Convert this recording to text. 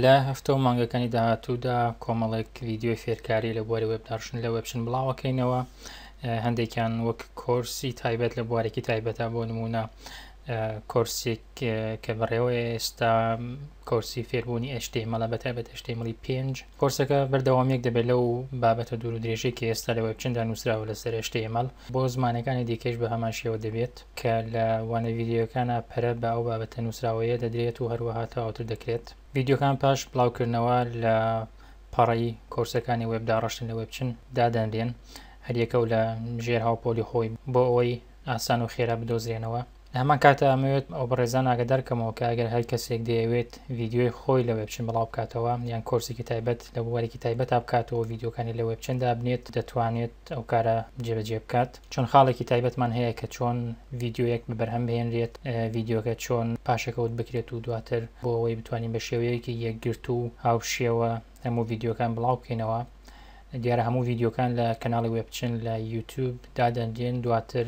لە هەفتە و مانگەکانی داهاتوودا کۆمەڵێک ویددیو فێرکاری لە بواری وێبداشن لە وەبچن بڵاوەکەینەوە هەندێکیان وەک کۆرسی تایبەت لە بوارێکی تایبەتە بۆ نمونە کۆرسێک کە بەڕێوە ئێستا کۆرسی فێربوونی ئەشتێمەڵە بە تایبەت ئەشتێمەڵی پێنج کۆرسەکە بەردەوامییەک دەبێت لەو بابەتە دوورودرێژەی کە ئێستا لە وێبچندا نووسراوە لەسەر HTML، بۆ زمانەکانی دیکەیش بە هەمان شێوە دەبێت، کە لە وانە ڤیدیۆیەکانا پەرە بە ئەو بابەتە نووسراوەیە دەدرێت و هەروەها تەواوتر دەکرێت. ڤیدیۆکان پاش بڵاوکردنەوە لە پەڕەی کۆرسەکانی وێب داڕشتن لە وێبچن دادەنرێن، هەریەکە و لە ژێر هاوپۆلی خۆی، بۆ ئەوەی ئاسان و خێرا بدۆزرێنەوە. لە هەمان کاتدا ئەمەوێت ئەو بەڕێزان ئاگادار کەمەوە کە ئەگەر هەر کەسێک دەیەوێت ڤیدیۆی خۆی لە وێبچن بڵاو بکاتەوە یان کۆرسێکی تایبەت لە بوارێکی تایبەتا بکات و ڤیدیۆکانی لە وێبچن دابنێت دەتوانێت ئەو کارە جێبەجێ بکات چۆن خاڵێکی تایبەتمان هەیە کە چۆن ڤیدیۆیەک بە بەرهەم بهێنرێت ڤیدیۆکە چۆن پاشەکەوت بکرێت و دواتر بۆ ئەوەی بتوانین بە شێوەیەکی یەکگرتوو و هاوشێوە هەموو ڤیدیۆکان بڵاو بکەینەوە دیارە هەموو ڤیدیۆکان لە کەناڵی وێبچن لە یوتیوب دادەنرێن دواتر